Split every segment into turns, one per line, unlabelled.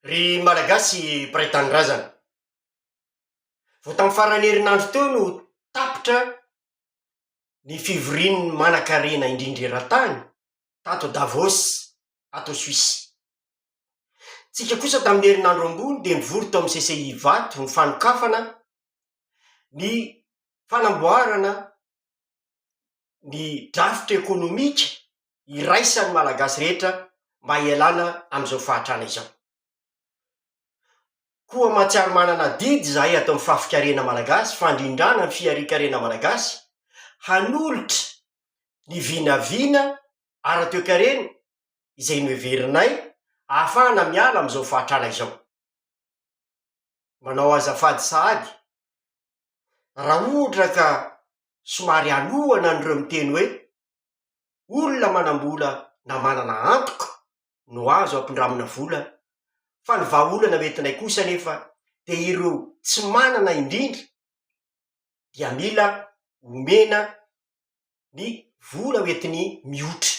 Ry Malagasy mpiray tanindrazana, vao tamin'ny faran'ny herinandro teo no tapitra ny fivorian'ny manankarena indrindra eran-tany tato Davos, ato Suisse. Isika kosa tamin'ny herinandro ambony dia nivory tao amin'ny CCI Ivato nifanokafana ny fanamboarana ny drafitra ekonomika iraisan'ny Malagasy rehetra mba hialana amin'izao fahantrana izao. Koa mahatsiaro manana adidy izahay ato amin'ny fafikarena Malagasy, fandrindrana ny fiharian-karena Malagasy, hanolotra ny vinavina ara-toekarena izay noheverinay ahafahana miala amin'izao fahantrana izao. manao azafady sahady, raha ohatra ka somary aloana an'ireo miteny hoe, olona manam-bola na manana antoko no azo ampindramina vola, fa ny vahaolana hoentinay kosa anefa dia ireo tsy manana indrindra dia mila omena ny vola hoentiny mihotra.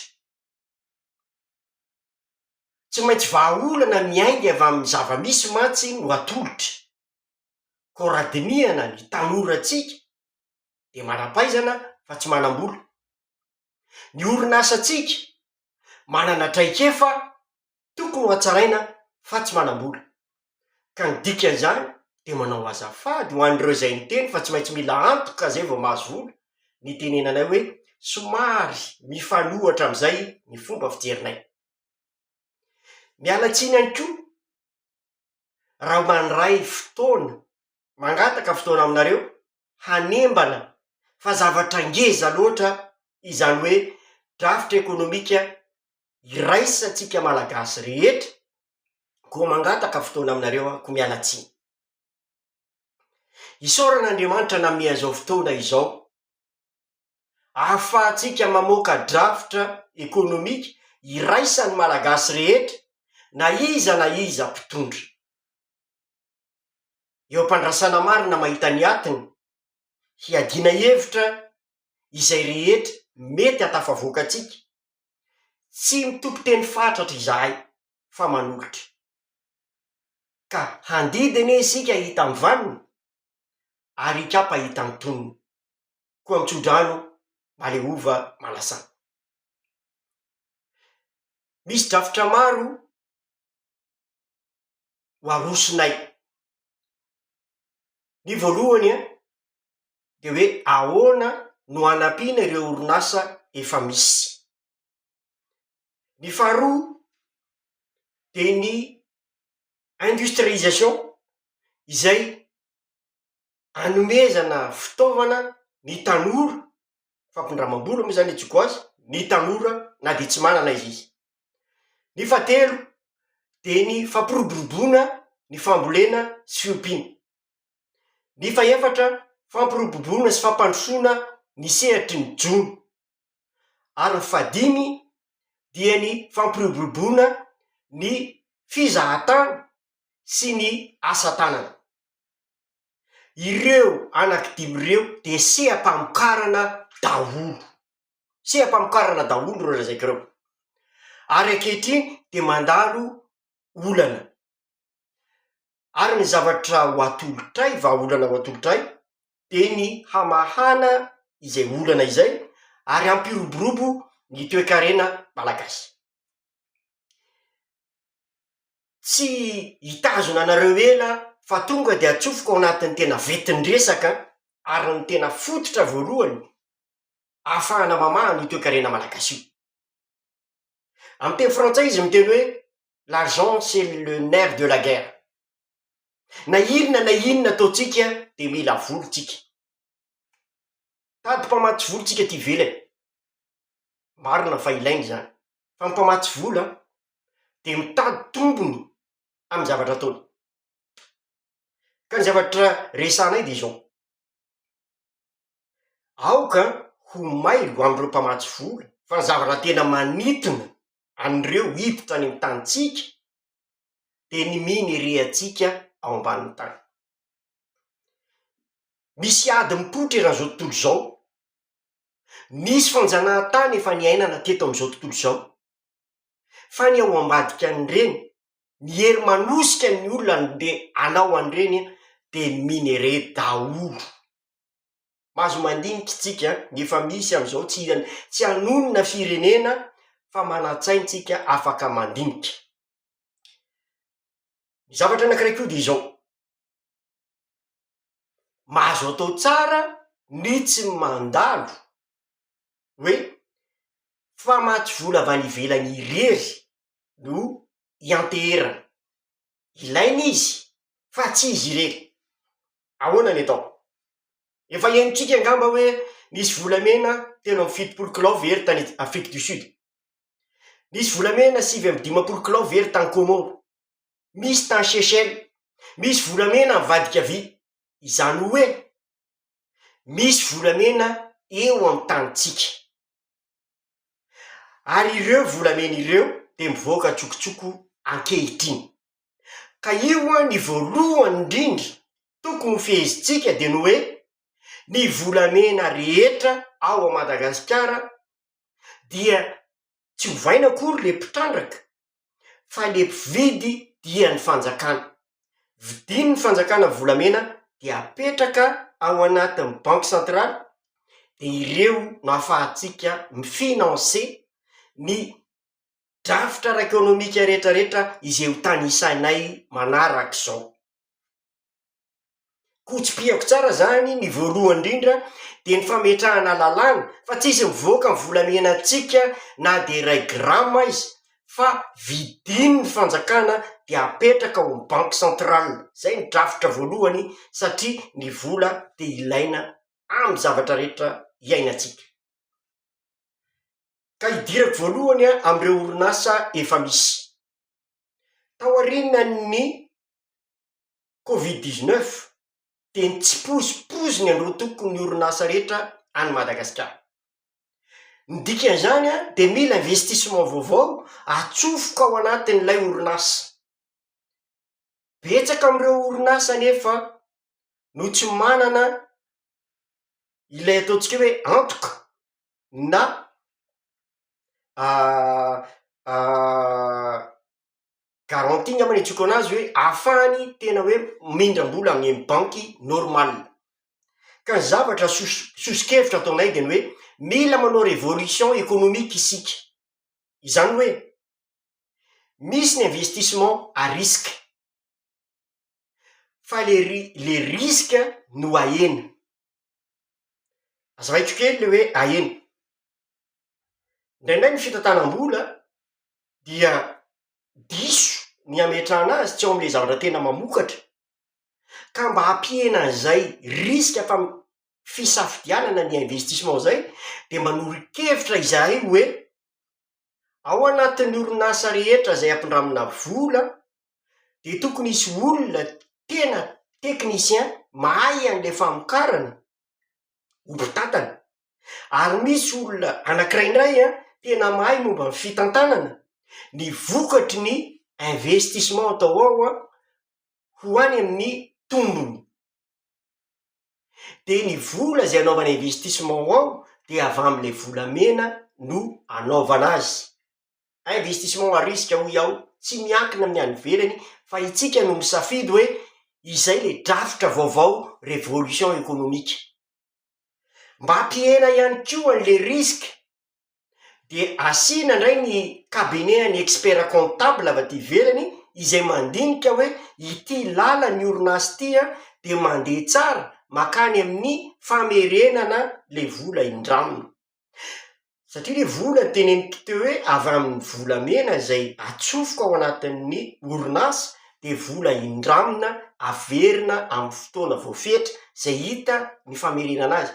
Tsy maintsy vahaolana miainga avy amin'ny zava-misy mantsy no atolotra, koa raha dinihana ny tanorantsika dia manam-pahaizana fa tsy manam-bola. Ny orinasantsika manana traikefa Tokony ho hatsaraina fa tsy manam-bola. Ka ny dikan'izany dia manao azafady ho an'ireo izay niteny fa tsy maintsy mila antoka izay vao mahazo vola, ny itenenanay hoe somary mifanohitra amin'izay ny fomba fijerinay. Miala tsiny ihany koa raha mandray fotoana, mangataka fotoana aminareo hanembana fa zavatra ngeza loatra izany hoe drafitra ekonomika iraisantsika Malagasy rehetra, koa mangataka fotoana aminareo aho, koa miala tsiny. Isaorana Andriamanitra nanome an'izao fotoana izao, ahafahantsika mamoaka drafitra ekonomika iraisan'ny Malagasy rehetra, na iza na iza mpitondra. Eo am-pandrasana marina mahita ny atiny, hiadiana hevitra izay rehetra mety hahatafavoaka antsika, Tsy mitoko teny fatratra izahay fa manolotra. Ka handidy anie isika hitan vaniny ary hikapa hitan tonony. Koa mitsodrano maleova manasa. Misy drafitra maro. ho arosonay. Ny voalohany an, dia hoe ahoana no hanampiana ireo orinasa efa misy. Ny faharoa dia ny industrialisation izay hanomezana fitaovana ny tanora, fampindramam-bola moa zany antsoiko azy, ny tanora na dia tsy manana aza izy. Ny fahatelo de ny fampiroboroboana ny fambolena sy fiompiana. Ny fahefatra, fampiroboroboana sy fampandrosoana ny sehatry ny jono. Ary ny fahadimy dia ny fampiroboroboana ny fizahantany sy ny asa tanana. Ireo anaky dimy ireo dia seha-pamokarana daholo, seha-pamokarana daholo ireo lazaiko ireo, ary ankehitriny dia mandalo olana, ary ny zavatra ho atolotray, vahaolana ho atolotray dia ny hamahana izay olana izay ary hampiroborobo ny toekarena malagasy. Tsy hitazona anareo ela aho fa tonga dia atsofoko ao anatin'ny tena ventin-dresaka ary ny tena fototra voalohany ahafahana mamaha an'io toekarena malagasy io. Amin'ny teny frantsay izy miteny hoe l'argent c'est le nerf de la guerre, na inona na inona ataontsika dia mila vola tsika, Tady mpamatsy vola tsika aty ivelany, marina fa ilaina izany, fa ny mpamatsy vola dia mitady tombony amin'ny zavatra ataony, ka ny zavatra resahanay dia izao, aoka ho mailo amin'ireo mpamatsy vola fa ny zavatra tena manintona an'ireo hiditra any amin'ny tanintsika dia ny minereantsika ao ambanin'ny tany. Misy ady mipoitra eran'izao tontolo izao. Misy fanjanahantany efa niainana teto amin'izao tontolo izao. Fa ny ao ambadika an'ireny, ny hery manosika ny olona handeha hanao an'ireny an, dia ny minerais daholo. Mahazo mandinika isika, ny efa misy amin'izao, tsy han- tsy hanonona firenena, fa manan-tsaina isika afaka mandinika. Ny zavatra anankiray koa dia izao, mahazo atao tsara ny tsy mandalo hoe fa maty vola avy any ivelany irery no ianteherana, ilaina izy fa tsy izy irery, ahoana ny atao? Efa henontsika angamba hoe nisy volamena telo amby fitopolo kilao ve ry tany Afrique du Sud? Misy volamena sivy amby dimampolo kilao very tany Kômôro. Misy tany Seychelles. Misy volamena avadika vita. Izany hoe, misy volamena eo amin'ny tanintsika. Ary ireo volamena ireo dia mivoaka an-tsokotsoko ankehitriny. Ka io an, ny voalohany indrindra tokony ho fehezintsika dia ny hoe, ny volamena rehetra ao a Madagasikara dia tsy ovaina akory le mpitrandraka fa le mpividy dia ny fanjakana, vidin' ny fanjakana volamena dia apetraka ao anatin' ny banky sentraly dia ireo no afahantsika mi-finance ny drafitra ara-ekonomika retraretra izay ho tanisainay manarak'izao. Koa tsipihako tsara izany, ny voalohany indrindra dia ny fametrahana lalàna fa tsy hisy mivoaka ny volamenantsika na dia iray grama aza fa vidin'ny fanjakana dia apetraka ao amin'ny banque centrale, izay ny drafitra voalohany satria ny vola dia ilaina amin'ny zavatra rehetra iainantsika. Ka idirako voalohany an, amin'ireo orinasa efa misy, tao aorianan'ny covid dix neuf dia ny tsipozipozin'ny androatoko ny orinasa rehetra any Madagasikara. Ny dikan'izany dia mila investissement vaovao atsofoka ao anatin'ilay orinasa. Betsaka amin'ireo orinasa anefa no tsy manana ilay ataontsika hoe antoka na Garantie angamba no iantsoako anazy hoe ahafahany tena hoe mindram-bola any amin'ny banky normal. Ka ny zavatra soso- soso-kevitra ataonay dia ny hoe mila manao révolution économique isika, izany hoe, misy ny investissement à risque, fa le ri- le risque no ahena. Aza maitso kely le hoe aena. Indraindray ny fitantanam-bola dia diso ny hametrahana azy tsy ao amin'ilay zavatra tena mamokatra, ka mba hampihena an'izay risque fam- fisafidianana ny investissement izay dia mba noro-kevitra izahay hoe. ao anatin'ny orinasa rehetra izay ampindramina vola dia tokony hisy olona tena technicien mahay an'ilay famokarana ho mpitantana, ary misy olona anankiray indray an, tena mahay momba ny fitantanana ny vokatry ny investissement atao ao an, ho any amin'ny tombony. dia ny vola izay anaovana investissement ao dia avy amin'ilay volamena no anaovana azy, investissement à risque hoy aho, tsy miankina amin'ny any ivelany fa itsika no misafidy hoe izay ilay drafitra vaovao révolution économique, mba hampihena ihany koa an'ilay risque. de asiana ndray ny cabinet an'ny expert comptable avy aty ivelany izay mandinika hoe ity lalan'ny orinasa ity an de mandeha tsara makany amin'ny famerenana le vola indraminy, satria le vola teneniko teo hoe avy amin'ny volamena izay atsofoka ao anatin'ny orinasa de vola indramina averina amin'ny fotoana voafetra izay hita ny famerenana azy.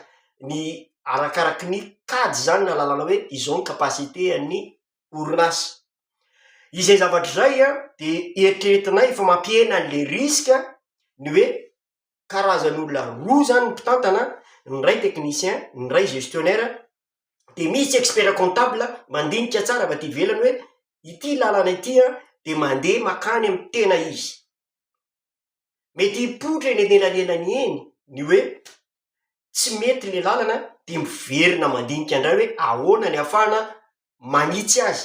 ny arakaraky ny kajy izany na lalana hoe izao ny capacité an'ny orinasa. Izay zavatra izay an, dia eritreretinay fa mampihena an'ilay risque ny hoe karazan'olona roa izany ny mpitantana, ny iray technicien, ny iray gestionnaire, dia misy tsy expert comptable mandinika tsara avy aty ivelany hoe ity lalana ity an dia mandeha mankany amin'ny tena izy. Mety hipoitra eny anelanelany eny ny hoe tsy mety ilay lalana dia miverina mandinika indray hoe ahoana ny hafahana manitsy azy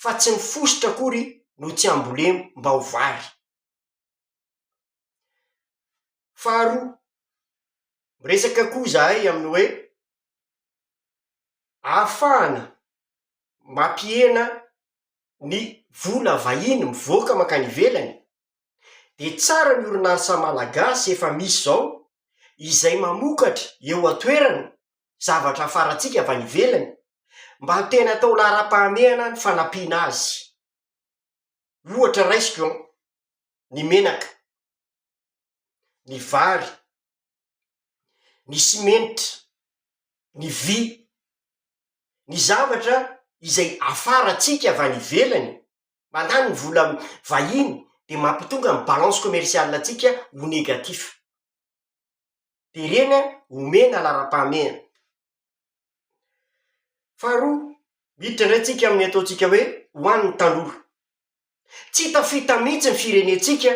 fa tsy ny fositra akory no tsy hambolemy mba ho vary. Faharoa, miresaka koa izahay amin'ny hoe ahafahana mampihena ny vola vahiny mivoaka mankany ivelany Dia tsara ny orinasa malagasy efa misy izao izay mamokatra eo an-toerana zavatra hafarantsika avy any ivelany mba tena atao laharam-pahamehana ny fanampiana azy. Ohatra raisiko an, ny menaka, ny vary, ny simenitra, ny vy, ny zavatra izay afarantsika avy any ivelany Mandany ny vola vahiny dia mampitonga ny balance commerciale antsika ho negatif. Dia ireny an, omena laharam-pahamehana. Faharoa, miditra indray tsika amin'ny ataontsika hoe ho an'ny tanora. Tsy tafita mihitsy ny firenentsika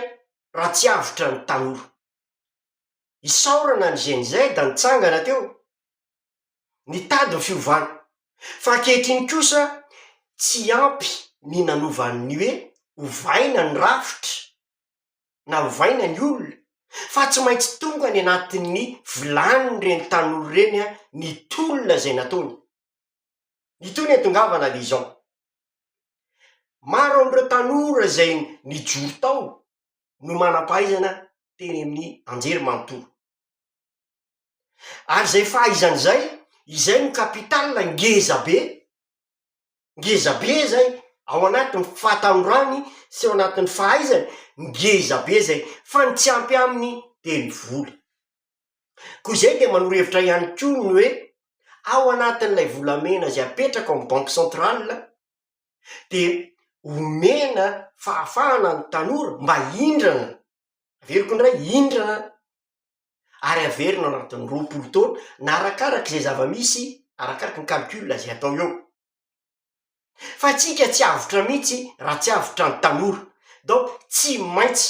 raha tsy avotra ny tanora. Isaorana ny GNZ nitsangana teo nitady ny fiovana. Fa ankehitriny kosa, tsy ampy ny nanova ny hoe ovaina ny rafitra na ovaina ny olona, fa tsy maintsy tonga any anatin'ny vilanin'ireny tanora ireny ny tolona izay nataony. Itony ihatongavana le izao, maro amin'ireo tanora izay nijoro tao no manam-pahaizana teny amin'ny anjerimanontolo. ary izay fahaizany izay, izay no capital ngeza be, ngeza be zay, ao anatin'ny fahatanorany sy ao anatin'ny fahaizany, ngeza be zay, fa ny tsy ampy aminy de ny vola, koa izay de manoro hevitra ihany koa ny hoe ao anatin'ilay volamena izay apetraka ao amin'ny banky centrale de omena fahafahana ny tanora mba hindrana, averiko indray, hindrana. ary averina ao anatin'ny roapolo taona na arakaraka izay zava-misy, arakaraka ny calcul izay atao eo. Fa antsika tsy avotra mihitsy raha tsy avotra ny tanora. Donc tsy maintsy,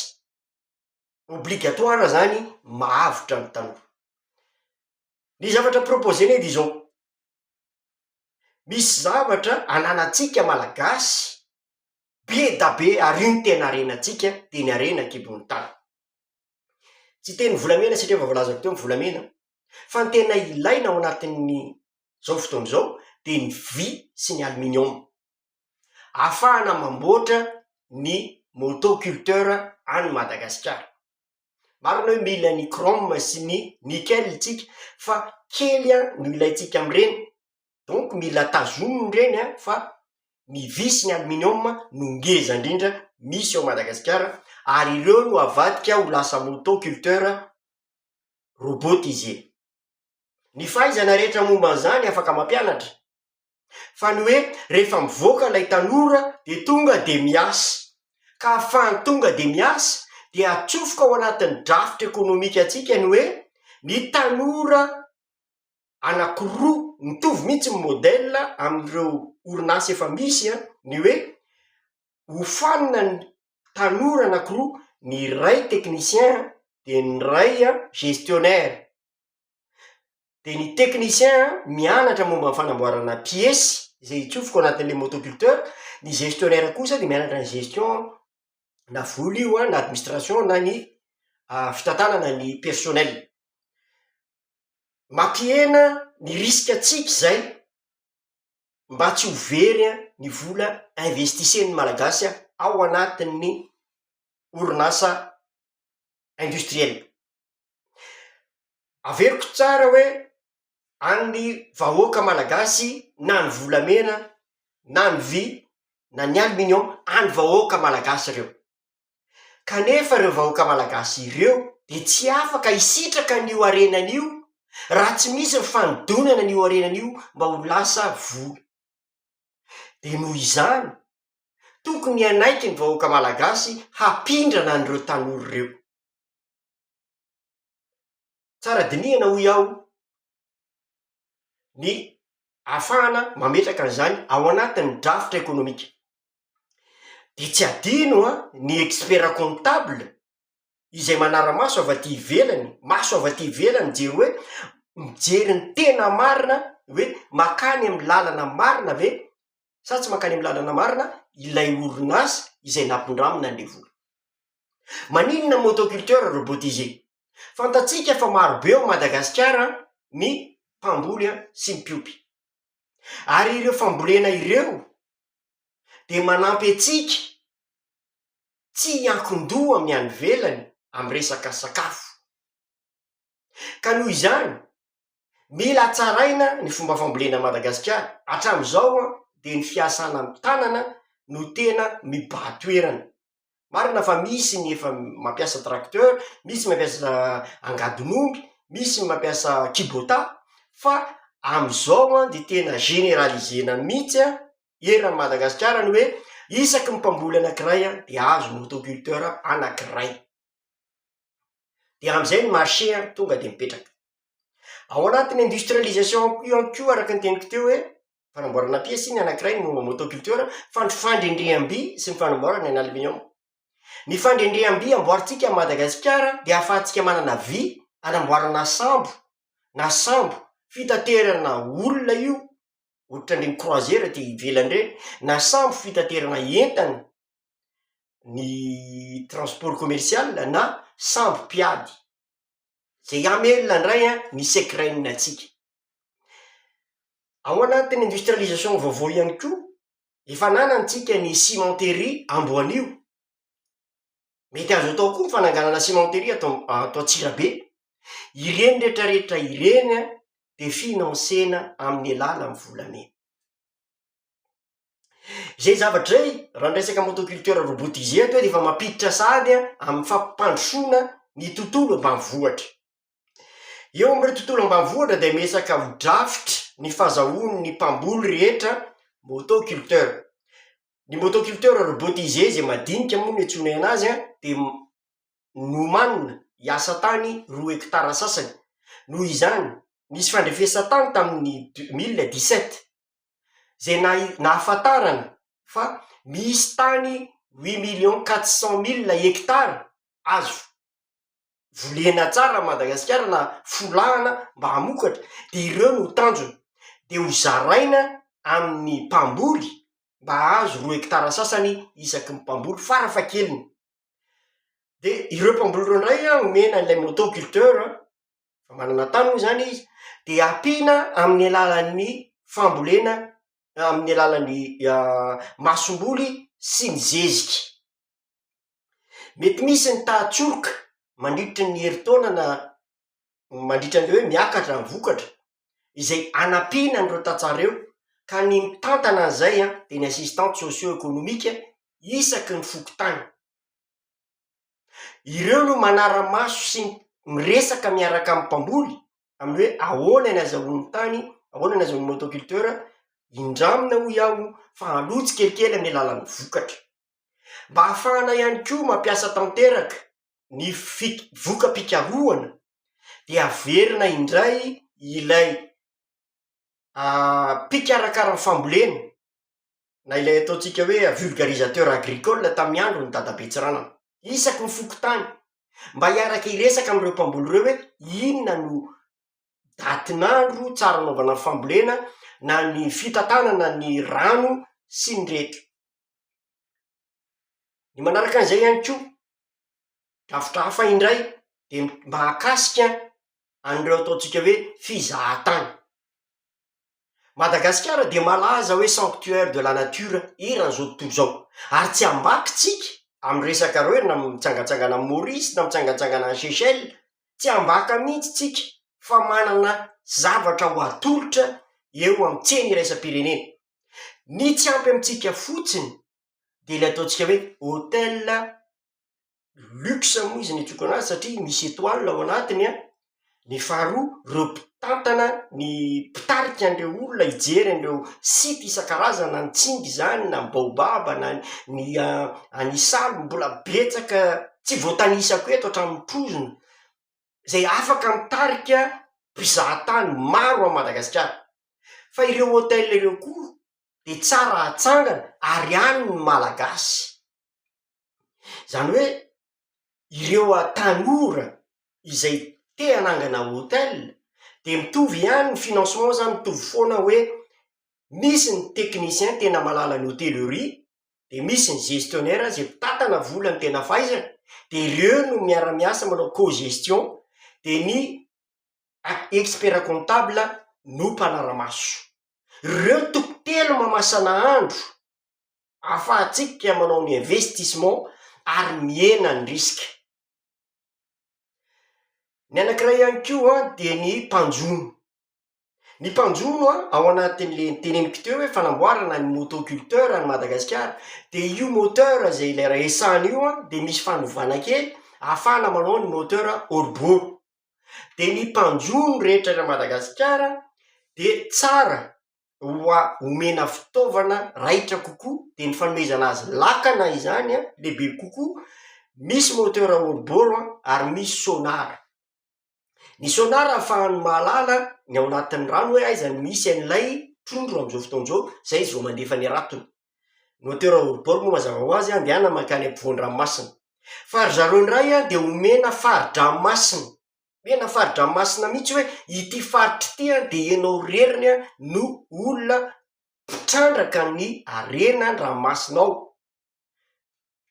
obligatoire izany mahavotra ny tanora. Ny zavatra proposer-nay dia izao, misy zavatra ananantsika Malagasy be da be ary io no tena harenantsika dia ny harena an-kibon'ny tany. Tsy teny volamena satria efa voalazako teo ny volamena fa ny tena ilaina ao anatin'ny zao fotoana izao dia ny vy sy ny aluminium afahana mamboatra ny moto culteur any Madagasikara. Marina hoe mila ny chrome sy ny nickel tsika fa kely an no ilaintsika amin'ireny donc mila tazominy ireny an fa ny vy sy ny aluminium no ngeza indrindra misy ao Madagasikara ary ireo no avadika ho lasa motoculteur robotisé, ny fahaizana rehetra momba an'izany afaka mampianatra fa ny hoe rehefa mivoaka ilay tanora dia tonga dia miasa ka hahafahany tonga dia miasa dia atsofoka ao anatin'ny drafitra ekonomika antsika ny hoe ny tanora anankiroa mitovy mihitsy ny modèle amin'ireo orinasa efa misy an, ny hoe hofanina ny tanora anankiroa ny iray technicien dia ny iray an gestionnaire, dia ny technicien an mianatra momba ny fanamboarana piesy izay hitsofoko anatin'ilay motoculteur, ny gestionnaire kosa dia mianatra ny gestion na vola io an, na administration na ny fitantanana ny personnel. Mampihena ny risque antsika izay mba tsy ho very an ny vola investisen'ny malagasy an ao anatin'ny orinasa industrielle. Averiko tsara hoe an'ny vahoaka malagasy na ny volamena na ny vy na ny aluminium an'ny vahoaka malagasy ireo. Kanefa ireo vahoaka malagasy ireo dia tsy afaka hisitraka an'io harenany io raha tsy misy ny fanodonana an'io harenany io mba ho lasa vola. Dia noho izany, tokony hanaiky ny vahoaka malagasy hapindrana an'ireo tanora ireo. Tsara dinihana hoy aho ny afahana mametraka an'izany ao anatin'ny drafitra ekonomika. Dia tsy adino an, ny expert comptable izay manara-maso avy aty ivelany, maso avy aty ivelany mijery hoe mijery ny tena marina hoe makany amin'ny lalana marina ve sa tsy mankany amin'ny lalana marina ilay orinasa izay nampindramina an'ilay vola? Maninona motoculteur robotisé? Fantatsika fa maro be ao Madagasikara ny mpamboly sy ny mpiompy. Ary ireo fambolena ireo dia manampy antsika tsy hiankin-doha amin'ny any ivelany amin'ny resaka sakafo. Ka noho izany, Mila tsaraina ny fomba fambolena an'i Madagasikara. Hatramin'izao dia ny fiasana ny tanana no tena mibahan-toerana. Marina fa misy ny efa mampiasa tracteur, misy mampiasa angadin'omby, misy ny mampiasa kibotà, fa amin'izao an dia tena generaliser-na mihitsy an, eran'i Madagasikara ny hoe isaky ny mpamboly anankiray dia azo ny auto culteur anankiray. dia amin'izay ny marché an, tonga dia mipetraka. Ao anatin'ny industrialisation ao koa ihany koa araka ny teniko teo hoe, fanamboarana piesy ny anankiray no motoculture, fandro fandrendreham-by sy ny fanamboarana ny aluminium. Ny fandrendreham-by amboarintsika an'i Madagasikara dia ahafahantsika manana vy anamboarana sambo na sambo fitaterana olona io, ohatran'ireny croisière aty ivelany ireny, na sambo fitaterana entana ny transport commercial na sambo mpiady, ze hiamelona ndray an ny secrain antsika. Ao anatin'ny industrialisation vaovao ihany koa, efa ananantsika ny cimenterie amboanio, mety azo atao koa ny fananganana cimenterie ato ato antsirabe, ireny retraretra ireny an dia financena amin'ny alalan'ny volamena. Zay zavatra zay, raha miresaka motoculture robotisé toa dia efa mampiditra sahady an, amin'ny fampandrosoana ny tontolo ambanivohitra. Eo amin'ireo tontolo ambanivohitra dia miresaka ho drafitra ny fazahoan'ny mpamboly rehetra motoculteur. Ny motoculteur robotisé izay madinika moa no iantsoana an'azy an, dia m- nomanina hiasa tany roa hekitara sasany. Noho izany, nisy fandrefesan-tany tamin'ny deux mille dix sept. izay nahi- nahafantarana fa misy tany huit millions quatre cent milles hectares azo volena tsara an'i Madagasikara na folahana mba hamokatra, de ireo no tanjona, de ho zaraina amin'ny mpamboly mba hahazo roa hekitara sasany isaky ny mpamboly farafahakeliny, de ireo mpamboly ireo indray an, omena an'ilay motoculteur an. fa manana tany moa zany izy, de ampiana amin'ny alalan'ny fambolena na amin'ny alalan'ny aah masomboly sy ny zeziky. Mety misy ny tahan-tsoroka mandritry ny herintaona na mandritra ny hoe miakatra ny vokatra, izay anampiana an'ireo tantsaha ireo, ka ny mitantana an'izay an, dia ny assistante socio-economique isaky ny fokontany. Ireo no manara-maso sy miresaka miaraka amin'ny mpamboly amin'ny hoe ahoana ny azahoan'ny tany, ahoana ny azahoan'ny motoculteur, indramina hoy aho fa aloha tsikelikely amin'ny alalan'ny vokatra. Mba hahafahana ihany koa mampiasa tanteraka ny fik- voka-pikarohana dia averina indray ilay aa mpikarakara ny fambolena. na ilay ataontsika hoe vulgarisateur agricole tamin'ny andron'i dadabe Tsiranana. Isaky ny fokontany, mba hiaraka hiresaka amin'ireo mpamboly ireo hoe inona no datin'andro tsara anaovana ny fambolena na ny fitantanana ny rano sy ny rehetra. Ny manaraka an'izay ihany koa, drafitra hafa indray dia ny mahakasika an'ireo ataontsika hoe fizahan-tany. Madagasikara dia malaza hoe sanctuaire de la nature eran'izao tontolo izao, ary tsy ambakitsika amin'ny resaka ireo na mitsangantsangana amin'i Maurice na mitsangantsangana any Seychelles, tsy ambaka mihitsy tsika fa manana zavatra ho atolotra eo amin'ny tsena iraisam-pirenena, ny tsy ampy amintsika fotsiny dia ilay ataontsika hoe hôtel. luxe moa izy ny tokana azy satria misy etoiles ao anatiny an, ny faharoa reo mpitantana ny mpitarika an'ireo olona hijery an'ireo site isan-karazany na ny tsingy izany na ny baobab na ny ny an isaly mbola betsaka tsy voatanisako eto hatramin'ny trozona izay afaka mitarika mpizaha tany maro an'i madagasikara fa ireo hotels ireo koa dia tsara hatsangana ary any ny malagasy Zany hoe ireo tanora izay te hanangana hotel de mitovy ihany ny financement zany mitovy foana hoe misy ny technicien tena mahalala ny hotellerie de misy ny gestionnaire zay mpitantana vola ny tena fahaizany de ireo no miara miasa manao co-gestion de ny a- expert comptable no mpanara-maso. Reo toko telo mamasana andro ahafahantsika manao ny investissement ary mihena ny risque. Ny anankiray ihany koa an, dia ny mpanjono. Ny mpanjono an, ao anatin'le teneniko teo hoe fanamboarana ny motoculteur any Madagasikara, de io moteur zay ilay resahana io an, de misy fanovana kely, ahafahana manao ny moteur hors-bord. dia ny mpanjono rehetra eran'i Madagasikara dia tsara hoa omena fitaovana raitra kokoa dia ny fanomezana azy lakana izany an, lehibe kokoa, misy moteur hors-bord ary misy sonar, ny sonar ahafahany mahalala ny ao anatin'ny rano hoe aiza no misy an'ilay trondro amin'izao fotoana izao, izay zao mandefa ny ratony. Ny hauteur hors-bord moa mazava ho azy andehana mankany am-povoan-dranomasina. Fa ry zareo indray an, dia omena fari-dranomasina, omena fari-dranomasina mihitsy hoe ity faritra ity an, dia ianao reriny an no olona mpitrandraka ny harenan-dranomasina ao.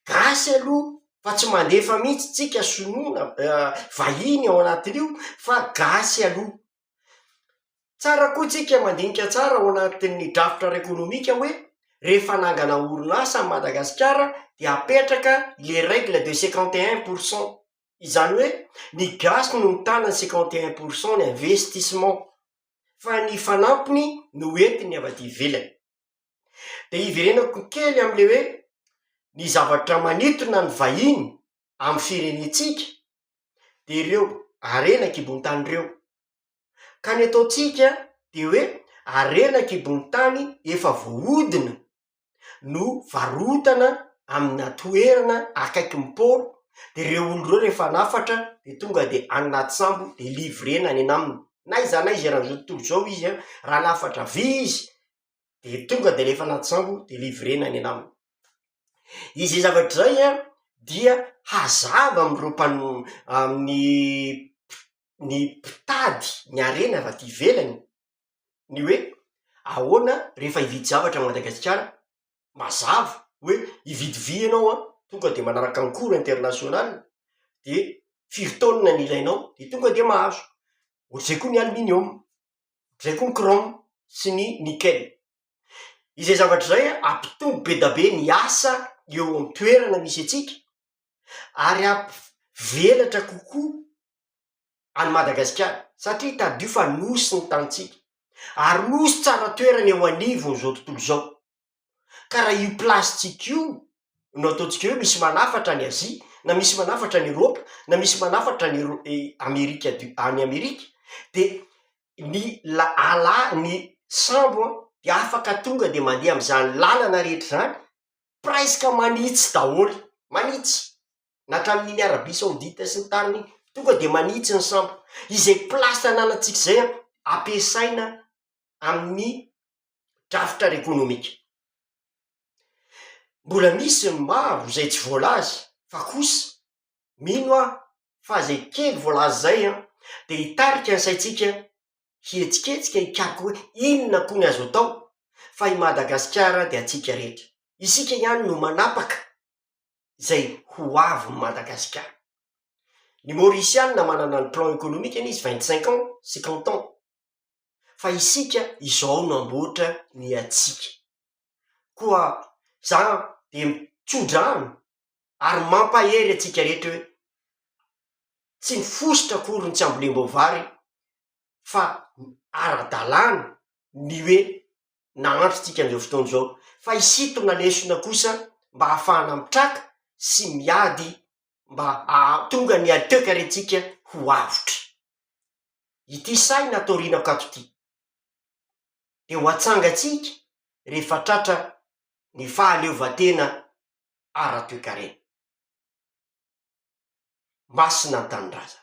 Gasy aloha fa tsy mandefa mihitsy tsika sinoa na vahiny ao anatin'io fa gasy aloha. Tsara koa tsika mandinika tsara ao anatin'ny drafitra ara-ekonomika hoe rehefa hanangana orinasa an'i Madagasikara dia apetraka le règle de cinquante et un pour cent, izany hoe ny gasy no mitana ny cinquante et un pour cent ny investissement fa ny fanampiny no entiny avy aty ivelany. De hiverenako kely am'le hoe ny zavatra manintona ny vahiny amin'ny firenentsika dia ireo harena an-kibon-tany ireo. Ka ny ataontsika dia hoe harena an-kibon-tany efa voahodina no varotana amina toerana akaikin'ny port, dia ireo olona ireo rehefa hanafatra dia tonga dia any anaty sambo dia livrena any anaminy, na aiza na aiza eran'izao tontolo izao izy an, raha hanafatra vy izy de tonga de alefa anaty sambo de livrena any anaminy, izy zay zavatra zay an dia hazava am'ireo mpano- amin'ny ny mpitady ny harena avy aty ivelany ny hoe ahoana rehefa hividy zavatra any madagasikara, mazava hoe hividy vy ianao an, tonga de manaraka ny cours international de firy taonina ny ilainao de tonga de mahazo, ohatr'izay koa ny aluminium. izay koa ny chrome sy ny nickel. Izay zavatra izay hampitombo be dia be ny asa eo an-toerana misy antsika ary hampivelatra kokoa an'i Madagasikara satria tadidio fa nosy ny tanintsika ary nosy tsara toerana eo anivon'izao tontolo izao. Ka raha io plastika io no ataontsika hoe misy manafatra any Azia, na misy manafatra any Eropa, na misy manafatra any Ero- e- Amerika du- any Amerika, dia ny la- ala ny sambo an, dia afaka tonga dia mandeha amy izany lalana rehetra izany, presque manitsy daholo, manitsy, na hatramin' iny Arabia Saodita sy ny tariny iny, tonga dia manitsy ny sambo, izay plasy ananantsika izay an, ampiasaina amy ny drafitra ara-ekonomika. Mbola misy ny maro izay tsy voalaza fa kosa mino aho fa izay kely voalaza izay an, dia hitarika ny saintsika hihetsiketsika hikaroka hoe inona koa ny azo atao fa i Madagasikara dia antsika rehetra. Isika ihany no manapaka izay ho avin'i Madagasikara. Ny Maurisiana manana ny plan ekonomikany izy vingt cinq ans, cinquante ans. fa isika izao no hamboatra ny antsika. Koa izany dia mitso-drano ary mampahery antsika rehetra hoe, tsy mifosotra akory ny tsy hambolem-boavary fa ara-dalàna ny hoe nahantra antsika amin'izao fotoana izao, fa hisintona lesona kosa mba hahafahana mitraka sy miady mba hahatonga ny alteokarentsika ho avotra. Ity sahy natorianako ato ity, dia ho atsangantsika rehefa tratra ny fahaleovantena ara-toekarena. Masina ny Tanindrazana.